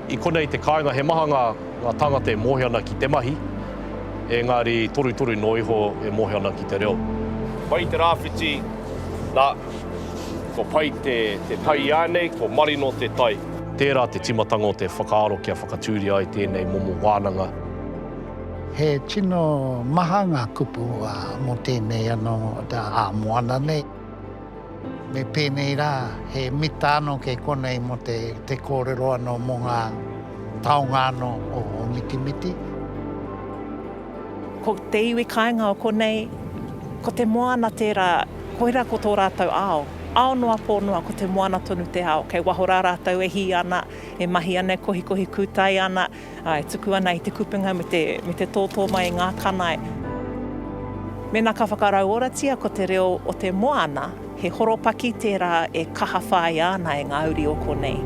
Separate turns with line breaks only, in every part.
I konei te kāinga he maha ngā tāngata e moe ana ki te mahi, engari torutoru noa iho e moe ana ki te reo. Mai te rāwhiti, nā, kua pai te tai i ānei, kua marino te tai. Tērā te tīmatanga o te whakaaro kia whakatūria ai tēnei momo wānanga.
He tino maha ngā kupu mō tēnei anō ā-moana nei. Me pēnei rā, he mita anō kei konei mō te kōrero anō mō ngā taonga anō o Mitimiti.
Ko te iwi kāinga o konei, ko te moana tērā, koirā ko tō rātou ao. Ao noa pō noa, ko te moana tonu te ao. Kei waho rā rātou e hī ana, e mahi ana, e kohikohi kūtai ana. Ā, e tuku ana i te kupenga me te, me te tōtō mai i ngā kanae. Mēnā ka whakarauoratia ko te reo o te moana, he horopaki tērā e kaha whāia ana e ngā uri o konei.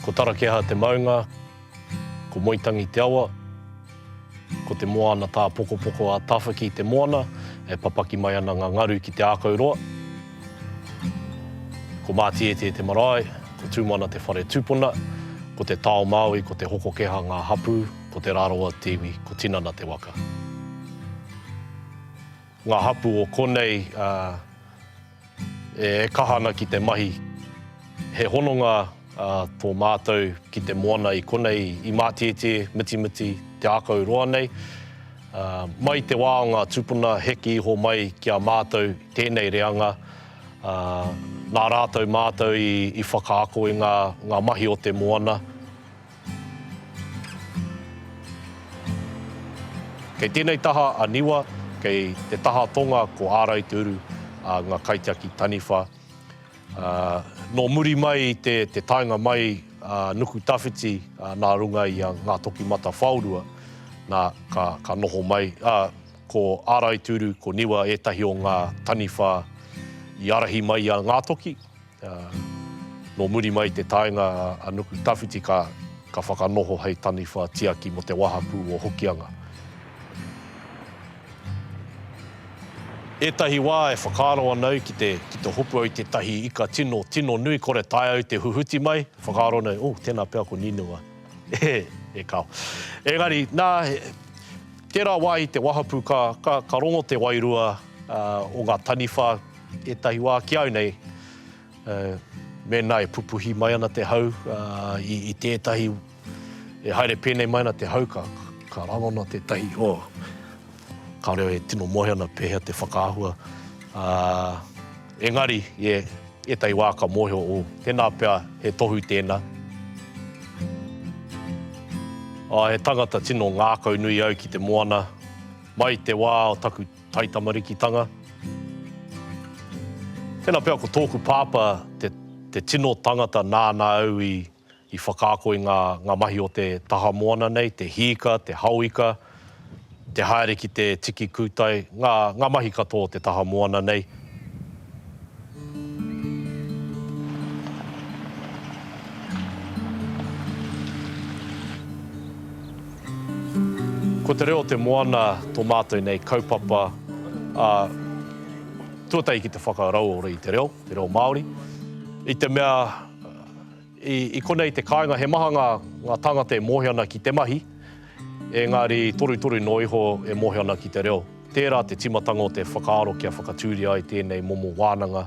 Ko Tarakeha te maunga, ko Moetangi te awa, ko te moana tāpokopoko a Tawhaki te moana e papaki mai ana ngā ngaru ki te ākau roa. Ko Mātietie te marae, ko Tūmana te whare tūpuna, ko te tao Māui, ko Te Hokokeha ngā hapū, ko Te Rarawa te iwi, ko Tinana te waka. Ngā hapū o konei e kaha ana ki te mahi. He hononga tō mātou ki te moana i konei i Mātietie, Mitimiti, Te Ākau roa nei. Mai te wā o ngā tūpuna heke iho mai ki a mātou tēnei reanga, nā rātou mātou i whakaako i ngā mahi o te moana. Kei tēnei taha a Niwa, kei te taha tonga ko Ārai Te Uru a ngā kaitiaki taniwha. Nō muri mai i te taenga mai a Nukutawhiti nā runga i a Ngātokimatawhaorua, nā, ka noho mai, ā, ko Ārai Te Uru, ko Niwa ētahi o ngā taniwha i ārahi mai i a Ngātoki. Ā, nō muri mai i te taenga a Nuku Tawhiti ka ka whakanoho hei taniwha tiaki mō te wahapū o Hokianga. Ētahi wā e whakaaro ana au ki te ki te hopu au i tētahi ika tino, tino nui kore taea au te huhuti mai, whakaaro ana au, oh, tēnā pea ko Nīnua. E, e kao. Engari, nā, he, tērā wā i te wahapū ka, ka, ka rongo te wairua, o ngā taniwha ētahi wā ki au nei, mēnā e pupuhi mai ana te hau i tētahi, e haere pēnei mai ana te hau, ka rangona tētahi, oh, kāore au e tino moe ana pēhea te whakaahua. Engari, ētahi wā ka mōhio, oh, tēnā pea he tohu tēnā. He tangata tino ngākaunui au ki te moana. Mai te wā o taku Taitamarikitanga Tēnā pea ko tōku pāpā te te tino tangata nāna au i i whakaako i ngā ngā mahi o te taha moana nei, te hīka, te haoika, te haere ki te tiki kūtai, ngā ngā mahi katoa o te taha moana nei. Ko te reo o te moana tō mātou nei kaupapa, ā, tuatahi ki te whakarauora i te reo, te reo Māori, i te mea, i, i konei te kāinga, he maha ngā, ngā tāngata e mōhio ana ki te mahi, engari torutoru noa iho e mōhio ana ki te reo. Tērā te tīmatanga o te whakaaro kia whakatūria ai tēnei momo wānanga.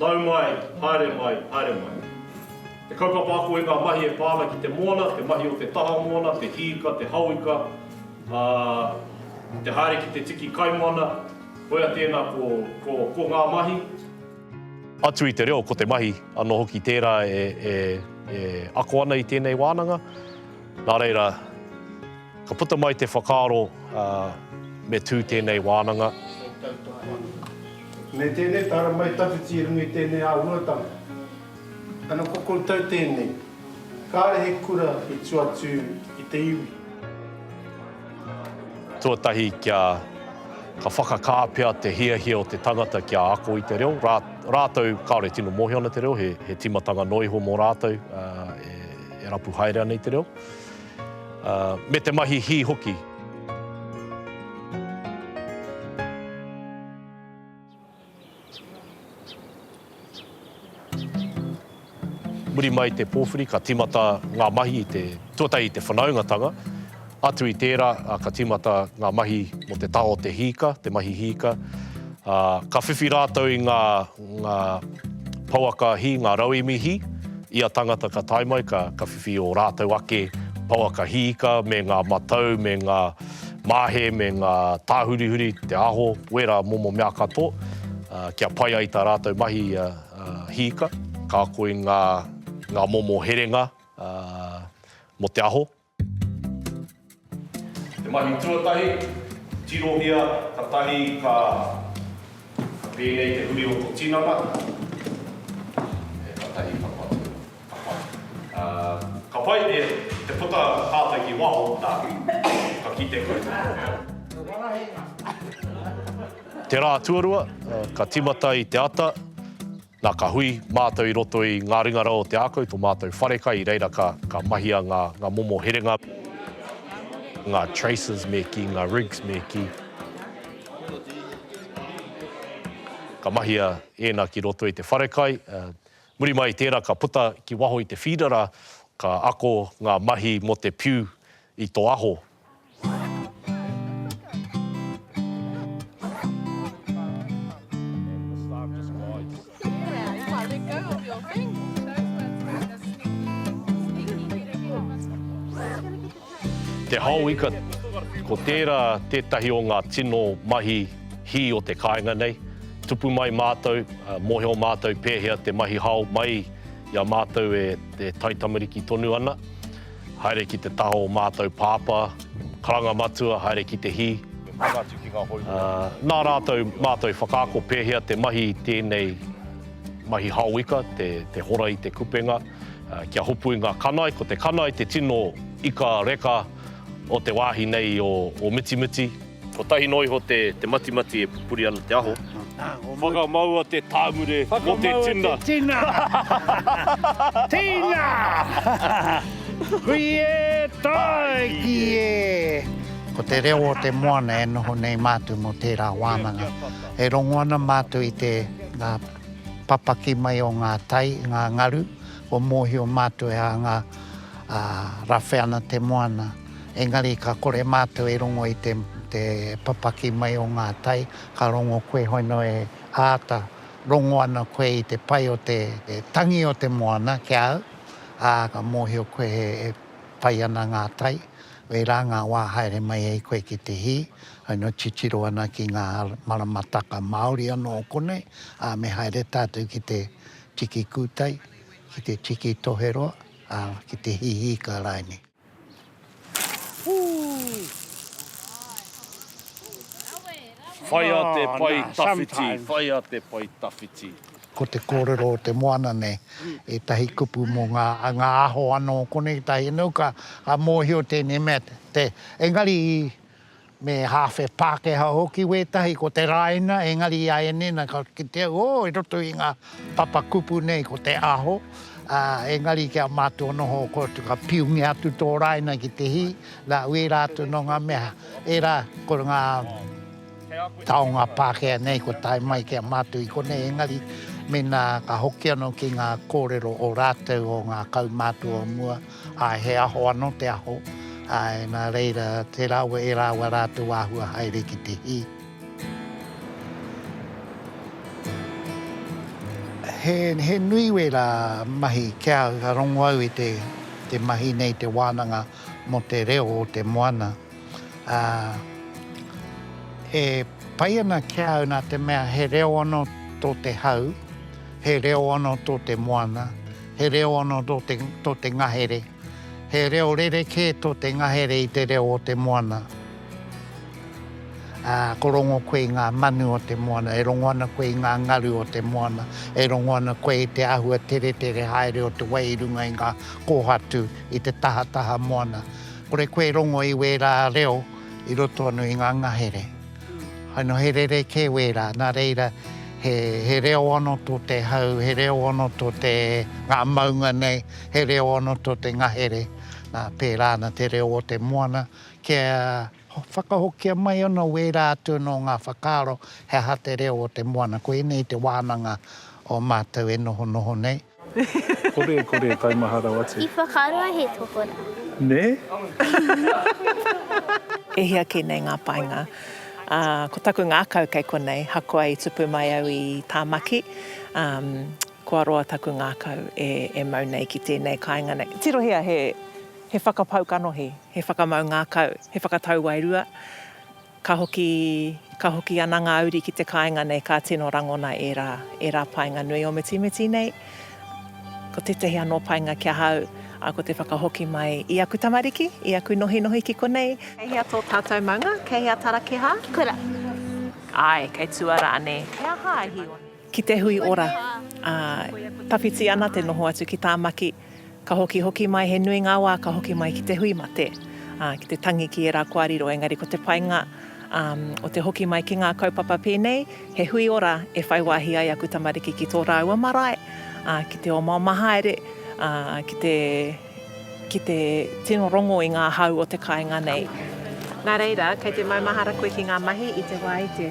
Nau mai, haere mai, haere mai. Te kaupapa ako i ngā mahi e pā ana ki te moana, te mahi o te taha moana, te hīka, te hauika, ā, te haere ki te tiki kaimoana, koia tēnā ko, ko, ko ngā mahi. Atu i te reo, ko te mahi anō hoki tērā e, e, e ako ana i tēnei wānanga. Nā reira. Ka puta mai te whakaaro me tū tēnei wānanga.
Me tēnei tāra mai tawhiti i runga i tēnei āhuatanga. Ana ko koutou tēnei. Kāre he kura i tua atu i te iwi.
Tuatahi kia ka whakakā pea te hiahia o te tangata kia ako i te reo. Rātou kāore tino mōhio ana te reo, he tīmatanga noa iho mō rātou e rapu haere ana i te reo. me te mahi hī hoki. Muri mai i te pōwhiri, ka tīmata ngā mahi i te, tuatahi i te whanaungatanga, atu i tērā, ka tīmata ngā mahi mō te taha o te hīka, te mahi hīka, ka whiwhi rātou i ngā, ngā pouaka hī, ngā rauemi hī, ia tangata ka tae mai ka whiwhi ō rātou ake pouaka hī ika me ngā matau, me ngā māhe, me ngā tāhurihuri, te aho, wērā momo mea katoa, kia pai ai tā rātou mahi hī ika. Ka ako i ngā momo herenga mō te aho. Te mahi tuatahi, tirohia katahi ka pēnei te huri o to tinana, katahi ka patu, ka pai. Ka pai e te puta tātou ki waho, na, ka kite koe ki te reo. Te rā tuarua, ka timata i te ata. Nā, ka hui mātou i roto i ngā ringa rau o te ākau, tō mātou wharekai, i reira ka, ka mahia ngā, ngā momo herenga, ngā traces me kī, ngā rigs me kī, ka mahia ēnā ki roto i te wharekai, ā, muri mai i tērā ka puta ki waho i te feeder, ā, ka ako ngā mahi mō te piu i tō aho. Te hao ika, ko tērā tētahi o ngā tino mahi hī o te kāinga nei. Tupu mai mātou, mōhio mātou pēhea te mahi hao mai i a mātou e taitamariki tonu ana. Haere ki te taha o mātou Pāpā, Karanga Matua, haere ki te hī. Nā rātou mātou whakaako pēhea te mahi i tēnei mahi haoika, te hora i te kupenga, kia hopu i ngā kanae. Ko te kanae te tino ika reka o te wāhi nei o Mitimiti. Kotahi noa iho te matimati e pupuri ana te aho. Whakamaua te tāmure mo te tina. Whakamaua te tina.
Tina! Hui e, tae ki e! Ko te reo o te moana e noho nei mātou mō tērā wānanga. E rongo ana mātou i te ngā papaki mai o ngā tai, ngā ngaru, kua mōhio mātou e ānga rawhe ana te moana. Engari ka kore mātou e rongo i te papaki mai o ngā tai, ka rongo koe hoi noa e āta rongo ana koe i te pai o te tangi o te moana ki a au, ā, ka mōhio koe e pai ana ngā tai, wērā ngā wā haere mai ai koe ki te hī, hoi noa titiro ana ki ngā maramataka māori anō o konei, ā, me haere tātou ki te tiki kūtai, ki te tiki toheroa, ā, ki te hihī ka rae nei.
Whaia te pae tawhiti, whaia te pae tawhiti. Ko te kōrero
o te moana nei, ētahi kupu mō ngā, ngā aho anō konei, ētahi anō, ka mōhio tēnei mea te, engari Me hāwhe Pākehā hoki wētahi ko te rāina, engari i a Enena ka kitea, ō, i roto i ngā papakupu nei ko te aho, ā, engari ki a mātou anō hooko atu ka piungia atu tō rāina ki te hī, nā, ērā atu nō ngā mea, ērā ko ngā taonga Pākehā nei kua tae mai ki a mātou i konei, engari mēnā ka hoki anō ki ngā kōrero o rātou o ngā kaumātua o mua, Āe, he aho anō te aho, āe, nā reira, tērā au e rāua rā tō āhua haere ki te hī. He nui wērā mahi ki a au, ka rongo au i te mahi nei, te wānanga mō te reo o te moana. Ā, e pai ana ki a au nā te mea he reo anō tō te hau, he reo anō tō te moana, he reo anō tō te, tō te ngahere, he reo rerekē tō te ngahere i te reo o te moana. Ā, ko rongo koe i ngā manu o te moana, e rongo ana koe i ngā ngaru o te moana, e rongo ana koe i te āhua teretere haere o te wai i runga i ngā kōhatu, i te tahataha moana. Kore koe e rongo i wērā reo i roto anō i ngā ngahere. Hai nō he rerekē wērā, nā reira he, he reo anō tō te hau, he reo anō tō te, ngā maunga nei, he reo anō tō te ngahere, nā, pērā ana te reo o te moana. Kia whakahokia mai anō wērā atu anō ngā whakaaro he aha te reo o te moana. Koinei te wānanga o mātou e nohonoho nei. Kore,
kore, taimaha rawa atu. I whakaroa he
tohorā. Nē?
E hia kē nei ngā painga. Ā, ko taku ngākau kei konei, hakoa i tupu mai au i Tāmaki, ā, kua roa taku ngākau e, e mau nei ki tēnei kāinga nei. Tirohia he, he whakapau kanohi, he whakamau ngākau, he whakatau wairua. Ka hoki, ka hoki ana ngā uri ki te kāinga nei, ka tino rangona ērā, ērā painga nui o Mitimiti nei. Ko tētahi anō painga ki ahau, ā, ko te whakahoki mai i aku tamariki, i aku nohinohi ki konei. Kei hea tō tātou maunga? Kei hea Tarakiha? Kura.
Āe,
kei Tuara anē? He aha a Hīoni? Ki te hui ora, ā, tawhiti ana te noho atu ki Tāmaki, ka hokihoki mai, he nui ngā wā ka hoki mai ki te hui mate, ā, ki te tangi ki ērā kua riro, engari ko te painga, ā, o te hoki mai ki ngā kaupapa pēnei, he hui ora e whai wāhi ai aku tamariki ki tō rāua marae, ā, ki te omaoma haere, ā, ki te, ki te tino rongo i ngā hau o te kāinga nei. Nā reira, kei te maumahara koe ki ngā mahi i te wā i te.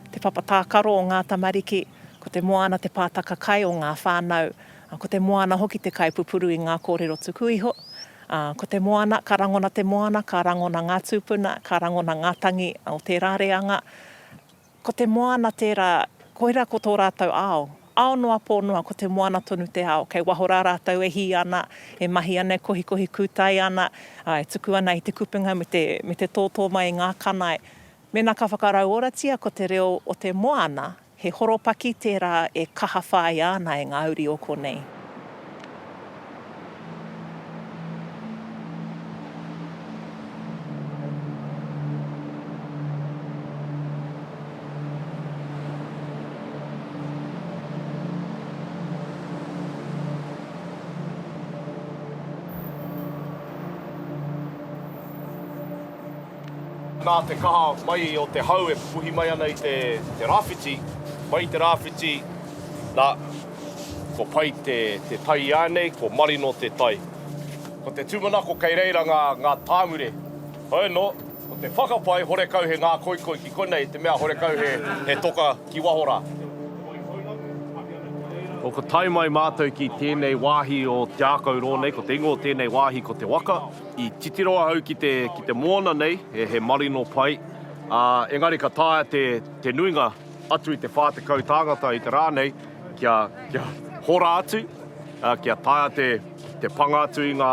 Te papa tākaro o ngā tamariki, ko te moana te pātaka kai o ngā whānau, ā, ko te moana hoki te kai pupuru i ngā kōrero tuku iho. Ā, ko te moana, ka rangona te moana, ka rangona ngā tūpuna, ka rangona ngā tangi o tērā reanga. Ko te moana tērā, koirā ko tō rātou ao. Ao noa pō noa, ko te moana tonu te ao. Kei waho rā rātou e hī ana, e mahi ana, e kohikohi kūtai ana, ā, e tuku ana i te kupenga me te, me te tōtō mai i ngā kanae. Mēnā ka whakarauoratia ko te reo o te moana, he horopaki tērā e kaha whāia ana e ngā uri o konei.
Nā te kaha mai o te hau e pupuhi mai ana i te rāwhiti, mai i te rāwhiti, nā, kua pai te tai iānei, kua marino te tai. Ko te tūmanako kei reira ngā tāngure. Hoeno, ko te whakapae horekau he ngākoikoi ki konei, te mea horekau he toka ki waho rā. Ko ka tae mai mātou ki tēnei wāhi o Te Ākau Rōnei, ko te ingoa o tēnei wāhi ko Te Waka. I titiro ahau ki te, ki te moana nei, he, he marino pai, ā, engari ka taea te, te nuinga atu i te 40 tāngata i te rā nei, kia, kia hora atu, ā, kia taea te, te panga atu i ngā,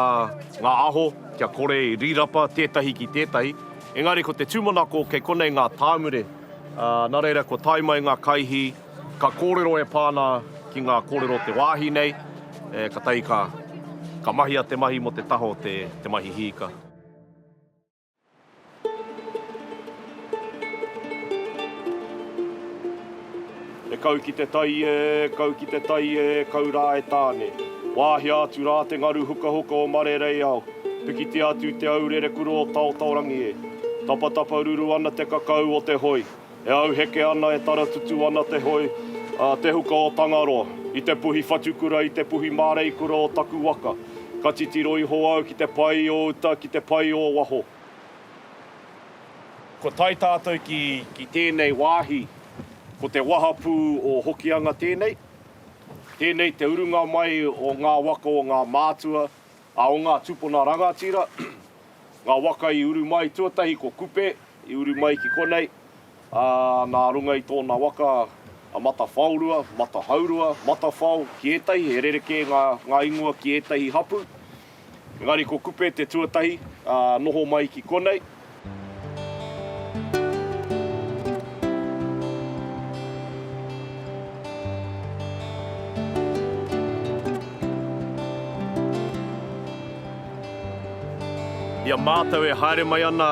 ngā aho, kia kore i rīrapa tētahi ki tētahi. Engari ko te tūmanako kei konei ngā tāmure, ā, nā reira kua tae mai ngā kaihī, Ka kōrero e pā ana ki ngā kōrero o te wāhi nei, e, ka tahi ka, ka mahia te mahi mō te taho te, te mahi hīka. E kau ki te tai e, kau ki te tai e, kau rā e Tāne. Wāhia atu rā te ngaru hukahuka o Marereiao, pikitia atu te aurere kura o Taotaorangi e. Tapatapa ruru ana te kakau o te hoi, E auheke ana, e taratutu ana te hoi a Te Huka o Tangaroa i te puhi whatukura, i te puhi māreikura o taku waka. Ka titiro iho au ki te pai o uta, ki te pai o waho. Kua tae tātou ki tēnei wāhi, ko te wahapū o Hokianga tēnei. Tēnei te urunga mai o ngā waka o ngā mātua, A o ngā tūpuna rangatira, ngā waka i uru mai tuatahi ko Kupe, i uru mai ki konei, ā, nā runga i tōna waka a Matawhaorua, Matahaurua, Matawhao, ki ētahi he rerekē ngā, ngā ingoa ki ētahi hapu. Engari ko Kupe te tuatahi, ā, noho mai ki konei. I a mātou e haere mai ana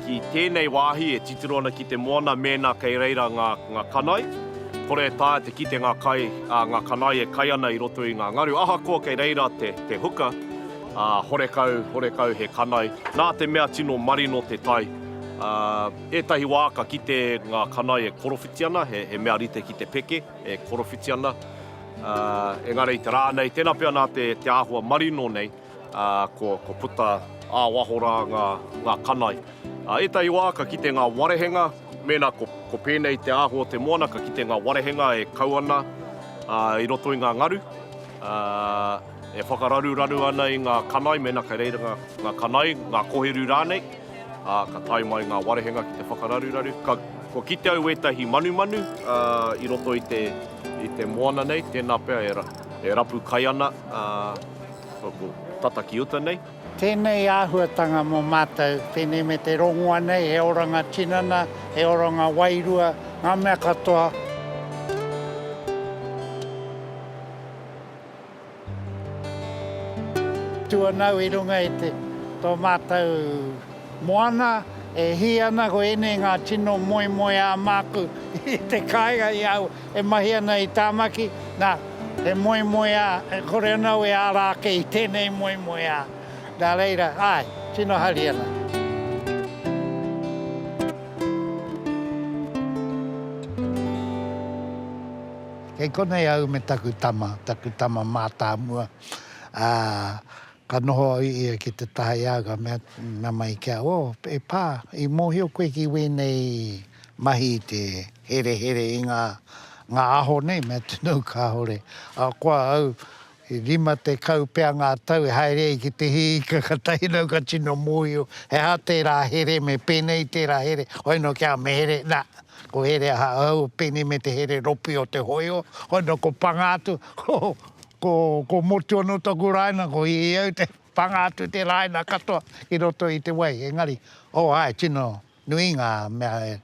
ki tēnei wāhi e titiro ana ki te moana mēnā kei reira ngā kanae, kore e taea te kite ngā kanae e kai ana i roto i ngā ngaru ahakoa kei reira te huka. Ā, horekau, horekau he kanai. Nā te mea tino marino te tai. Ā, ētahi wā ka kite ngā kanai e korowhiti ana, he, he mea rite ki te peke, e korowhiti ana. Ā, engari i te rā nei, tēnā pea nā te, te āhua marino nei, ā, ko, ko puta ā waho rā ngā, ngā kanai. Ā, ētahi wā ka kite ngā warehenga, mēnā ko, ko pēnei te āhua o te moana, ka kite ngā warehenga e kau ana, ā, i roto i ngā ngaru. Ā. E whakararuraru ana i ngā kanai mēnā kei reira ngā kanai, ngā kohiru rānei, ā, ka tae mai ngā warehenga ki te whakararuraru. Kua kite au ētahi manumanu i roto i te, i te moana nei, tēnā pea e rapu kai ana, ā, ko tata ki uta nei. Tēnei āhuatanga
mō mātou, pēnei me te rongoa nei, he oranga tinana, he oranga wairua, ngā mea katoa. Tua nau i runga i te tō mātou moana, e hī ana ko ēnei ngā tino moemoeā māku i te kāinga i au e mahi ana i Tāmaki, nā, he moemoeā e kore ana au e āra ake i tēnei moemoeā. Nā reira, āe, tino hari ana. Kei konei au me taku tama, taku tama mātāmua, ā, ka noho au i ia ki te taha i a au, ka mea, mea mai ki a au, Oh, e pā, i mōhio koe ki wēnei mahi i te herehere i ngā, ngā aho nei, mea tunu kāore. Ahakoa au, E rima tekau pea ngā tau e haere ai ki te hī ika ka tahi nau ka tino mōhio he aha tērā here me pēnei tērā here hoi nō ki a Mehere nā ko here aha ahau pēnei me te here ropi o te hōiho hoi nō ko panga atu ko ko ko motu anō taku rāina ko i au te panga atu te rāina katoa ki roto i te wai engari oh āe tino nui ngā mea e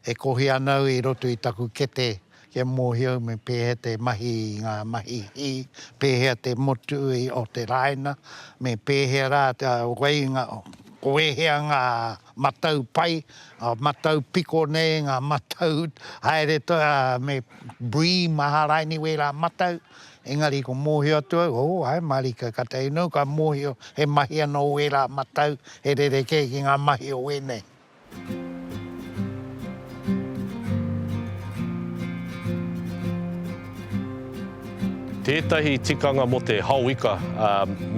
E kohi ana au i roto i taku kete kia mōhio au me pēhea te mahi i ngā mahi hī, pēhea te motu o te rāina, me pēhea rā te whai, ko ēhea ngā matau pai, ngā matau piko nei, ngā matau haere toi, ā, me brie, maharaini, wērā matau. Engari ko mōhio atu au, ō, ae, mārika, ka tae noa ka mōhio he mahi anō wērā matau e rerekē ki ngā mahi o wēnei.
Tētahi tikanga mō te hao ika,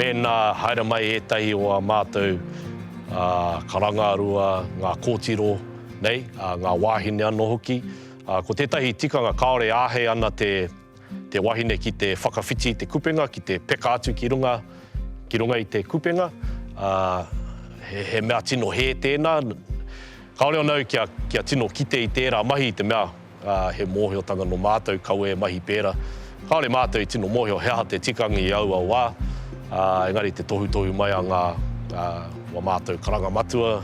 mēnā haere mai ētahi o ā mātou karangarua, ngā kōtiro nei, ngā wāhine anō hoki, ko tētahi tikanga kāore e āhei ana te. Te wahine ki te whakawhiti i te kupenga, ki te peka atu ki runga, ki runga i te kupenga, ā, he, he mea tino hē tēnā. Kāore anō kia, kia tino kite i tērā mahi i te mea, ā, he mōhiotanga nō mātou kau e mahi pērā. Kāore mātou i tino mōhio he aha te tikanga i aua wā, ā, engari te tohutohu mai a ngā, ā, wā mātou karanga matua,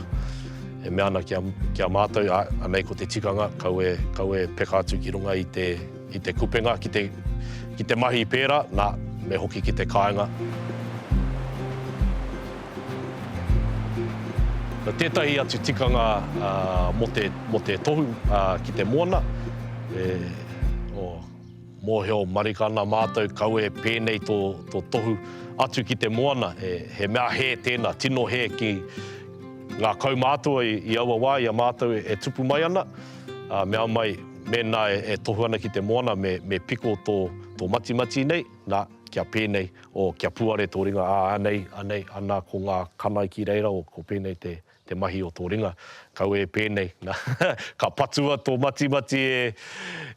e mea ana ki a, ki a mātou, ā, anei ko te tikanga, kau e, kau e peka atu ki runga i te, I te kupenga ki te ki te mahi pērā, nā, me hoki ki te kāinga. Nā tētahi atu tikanga mō te, mō te tohu ki te moana, e, oh, mōhio marika ana mātou, kau e pēnei tō, tō tohu atu ki te moana, e, he mea hē tēnā, tino hē ki ngā kaumātua i, i aua wā i a mātou e tupu mai ana, ā, mea mai, Mēnā e tohu ana ki te moana me piko tō matimati nei, nā, kia pēnei, o kia puare tō ringa, ā, anei, anei, anā, ko ngā kanae ki reira, o ko pēnei te mahi o tō ringa, kau e pēnei, nā, ka patua tō matimati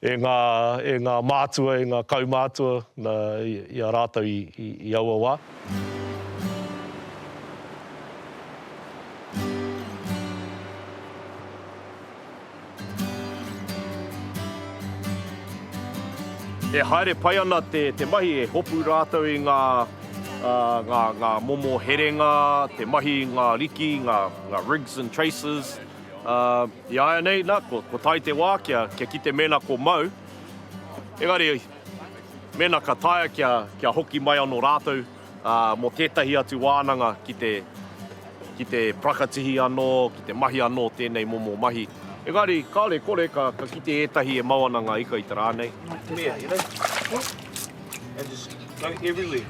e ngā mātua, e ngā kaumātua, nā, i a rātou i aua wā. E haere pai ana te mahi e hopu rātou i ngā momo herenga, te mahi i ngā riki, ngā rigs and traces. Iāianei, nā, kua tae te wā kia kite mēnā ko mau. Engari, mēnā ka taea kia hoki mai anō rātou. ā, mō tētahi atu wānanga ki te, ki te parakatihi anō, ki te mahi anō tēnei momo mahi. Engari, kāore, kore, ka, ka kite ētahi e mau ana ngā ika i te rā nei. Mea, you know, whoop, and
just go everywhere,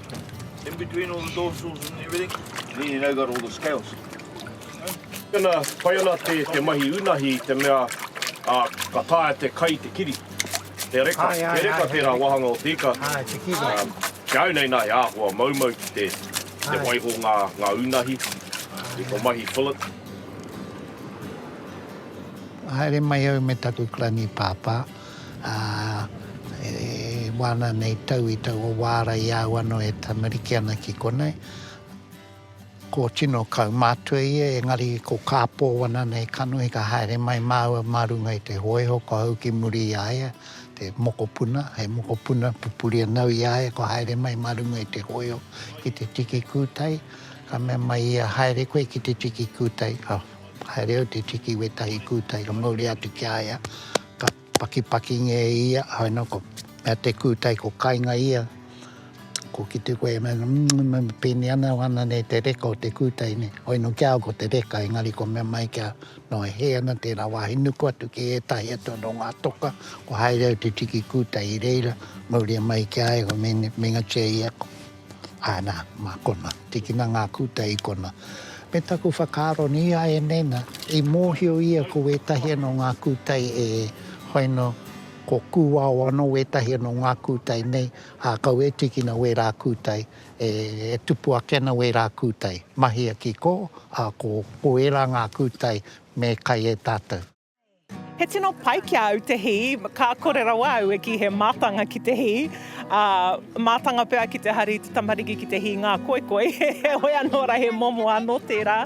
in between all the dorsals and everything, and then you know you've got all the
scales. Tēnā, pai ana te, te mahi unahi i te mea, ā, ka taea te kai te kiri. He reka, he reka tērā wāhanga o te ika.
Ki au nei nā, he
āhua maumau ki te waiho ngā unahi i tō mahi fillet.
Haere mai au me taku klanī pāpā, e wāna nei tau i taua wāra i a au anō e tamariki ana ki konei. Ko tino kaumātua ia, engari ko kāpō wana nei kanohi ka haere mai māua mā runga i te hōiho kua hou ki muri i a ia te mokopuna, he mokopuna pupuri anō i a ia kua haere mai mā runga i te hōiho ki te tiki kūtai, ka mea mai ia, haere koe ki te tiki kūtai, ka haere au te tiki wētahi kūtai ka mauria atu ki a ia, ka. Pakipakingia e ia, haina ko mea te kūtai ko kainga ia, ko ki te koe mea mmm pēnei ana ana nei te reka o te kūtai nei, hoi no kia au ko te reka engari ko mea mai kia noa hē ana tērā wāhi nuku atu ki ētahi atu anō ngā toka kua haere au te tiki kūtai i reira mauria mai ki a ia ko meinga tia ia ko Ana, mā kona, tikina ngā kūtai i kona. Me taku whakaaro nī a Enena, i mōhio ia ko wētahi anō ngā kūtai e whai noa, ko Kūao anō wētahi anō ngā kūtai nei, ā, kau e tīkina wērā kūtai, e tupu ake ana wērā kūtai. Mahia ki kō, ā, ko ērā ngā kūtai me kai e tātou. He tino
pai ki a au te hī, ka kore rawa au e kī he mātanga ki te hī, ā, mātanga pea ki te hari i te tamariki ki te hī ngā koikoi, heoi anō rā he momo anō tērā.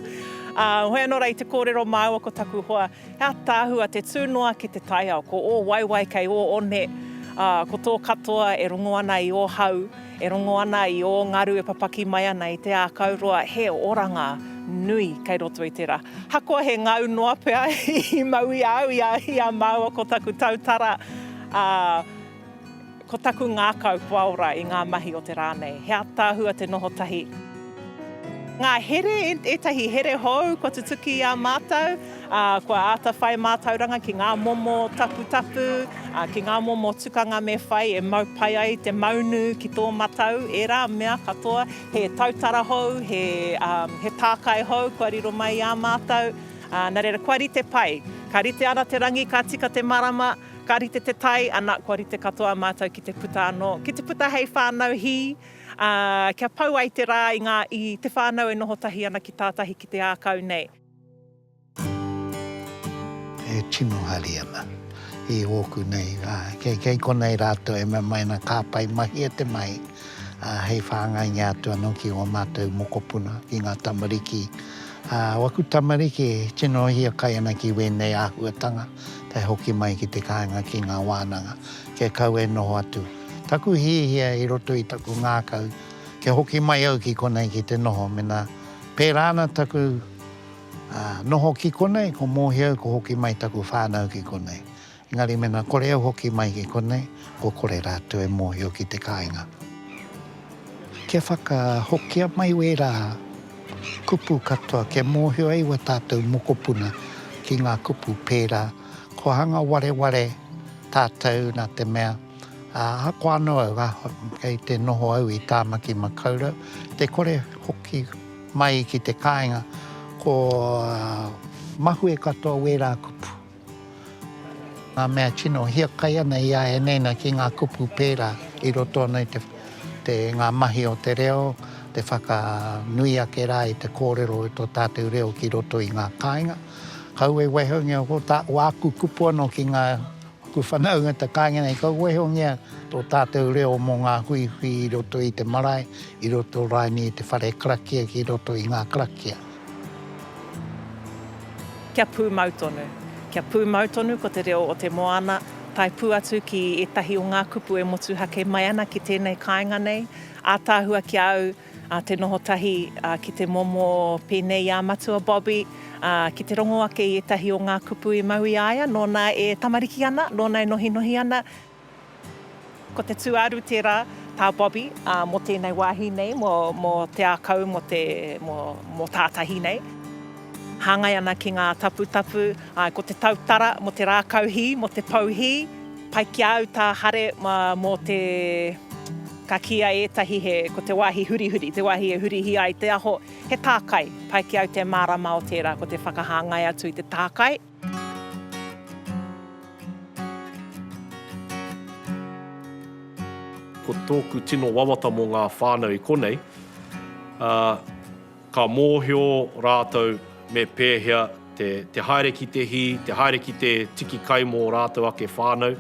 Ā, hoi anō rā i te kōrero māua ko taku hoa, he ātaahua te tū noa ki te taiao, ko ō waewae kei ō one, ā, ko tō katoa e rongo ana i ō hau, E rongo ana i ō ngaru e papaki mai ana i te ākau roa he oranga nui kei roto i tērā. Hakoa he ngau noa pea i mau i a au, i a māua ko taku tautara, ā, ko taku ngākau kua ora i ngā mahi o te rā nei. He ātaahua te noho tahi. Ngā here, ētahi here hou kua tutuki i a mātou. ā, kua āta whai mātauranga ki ngā momo taputapu, ā, ki ngā momo tukanga me whai e mau pai ai te maunu ki tō matau, ērā mea katoa, he tautara hou, he, ā, he tākai hou kua riro mai i ā mātau, ā, nā reira, kua rite pai. Ka rite ana te rangi, ka tika te marama, ka rite te tai, ana, kua rite katoa mātau ki te puta anō, ki te puta hei whānau hī, ā, kia pau ai te rā i ngā, i te whānau e noho tahi ana ki tātahi ki te ākau nei.
E tino hari ana i ōku nei rā. Kei, kei konei rātou e mea mai ana ka pai mahia te mahi, ā, hei whāngaingia atu anō ki ō mātou mokopuna, ki ngā tamariki. Ā, waku tamariki e tino hiakai ana ki wēnei āhuatanga, tae hoki mai ki te kāinga ki ngā wānanga, kia kau e noho atu. Taku hiahia i roto i taku ngākau, kia hoki mai au ki konei ki te noho mena. Pērā ana taku noho ki konei, ko Mōhio au ko hoki mai taku whānau ki konei. Engari mēnā kore au hoki mai ki konei, kua kore rātou e mōhio ki te kāinga. Kia whakahokia mai wērā kupu katoa, kia mōhio ai wā tātou mokopuna ki ngā kupu pērā, kua hanga wareware tātou nā te mea, Ahakoa anō au, kei te noho au i Tāmaki Makaurau, te kore hoki mai ki te kāinga, ko mahue katoa wērā kupu. Ngā mea tino hiakai ana i a ēnei nei ki ngā kupu pērā i roto ana i te, ngā mahi o te reo, te whakanui ake rā i te kōrero i tō tātou reo ki roto i ngā kāinga. Kaua e waihoungia ko tā, ko āku kupu anō ki ngā. Ko Whanaungata kāinga nei, ka wehongia tō tātou reo mō ngā huihui i roto i te marae, i roto raini i te whare karakia ki roto i ngā karakia.
Kia pūmau tonu. Kia pūmau tonu ko te reo o te moana, tae pū atu ki ētahi o ngā kupu e motuhake mai ana ki tēnei kāinga nei, ātaahua ki a au, a te noho tahi ki te momo pēnei i a Matua Bobby, ā, ki te rongo ake i ētahi o ngā kupu i mau i a ia, nōna e tamariki ana, nōna e nohinohi ana. Ko te tūāru tērā, tā Bobby, ā, mō tēnei wāhi nei, mō te ākau, mō tātahi nei. Hāngai ana ki ngā taputapu, āe, ko te tautara mō te rākau hī, mō te pou hī. Pai ki a au tā Hare mō te. Ka kīia ētahi he, ko te wāhi hurihuri, te wāhi e hurihia ai te aho, he tākai. Pai ki au te mārama o tērā, ko te whakahāngai atu i te tākai.
Ko tōku tino wawata mō ngā whānau i konei, ā. Ka mōhio rātou me pēhea te haere ki te hī, te haere ki te tiki kai mō ō rātou ake whānau.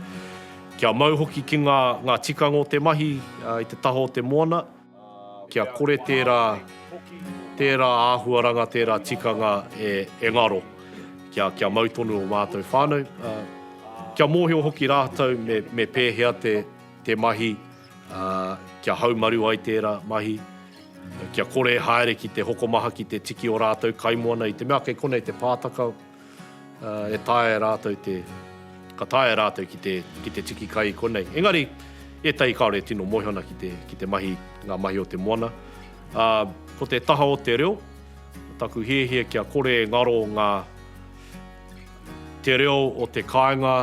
Kia mau hoki ki ngā tikanga o te mahi i te taha o te moana, kia kore tērā āhuaranga, tērā tikanga e ngaro, kia mau tonu ō mātou whānau. Kia mōhio hoki rātou me pēhea te mahi. ā, kia haumaru ai tērā mahi, kia kore e haere ki te hokomaha ki te tiki o rātou kaimoana i te mea kei konei te pātaka, ā, e taea e rātou te, ka taea e rātou ki te, ki te tiki kai i konei. Engari, ētahi kāore e tino moe ana ki te, ki te mahi, ngā mahi o te moana. Ā, ko te taha o te reo, taku hiahia kia kore e ngaro ngā, Te reo o te kāinga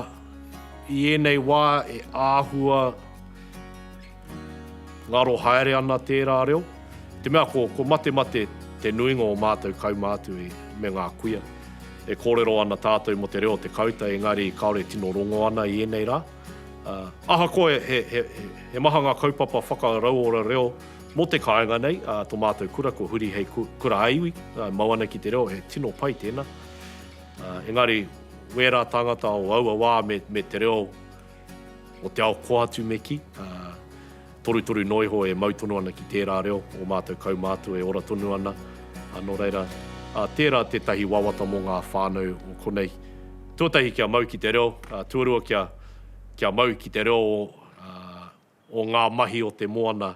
i ēnei wā e āhua ngaro haere ana tērā reo, i te mea ko, ko matemate te nuinga o mātou kaumātu i, me ngā kuia. E kōrero ana tātou mō te reo o te kauta engari kāore e tino rongo ana i ēnei rā. Ahakoa he, he, he, he maha ngā kaupapa whakarauora reo mō te kāinga nei, tō mātou kura ko Huri hei kura ā-iwi, mau ana ki te reo, he tino pai tēnā. Engari, wērā tāngata o aua wā me te reo o te ao koa atu me kī, torutoru noa iho e mau tonu ana ki tērā reo, ō mātou kaumātua e ora tonu ana. Nō reira, tērā tētahi wawata mō ngā whānau o konei. Tuatahi kia mau ki te reo, tuarua kia mau ki te reo o ngā mahi o te moana.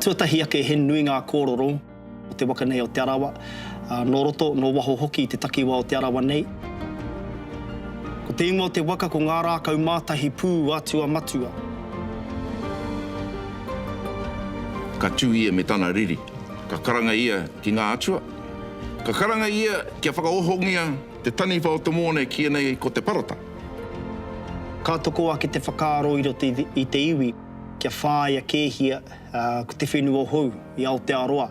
Tuatahi ake he nui ngā kōroro o te waka nei o Te Arawa, nō roto, nō waho hoki i te takiwā o Te Arawa nei. Ko te ingoa o te waka ko Ngā Rākau Mātahi Pū Atua Matua.
Ka tū ia me tana riri, ka karanga ia ki ngā atua, ka karanga ia kia whakaohongia, Te taniwha o te mōne kīia nei ko te parata.
Ka toko ake te whakaaro i roto i te iwi kia whāia kēhia ko te whenua hou i Aotearoa.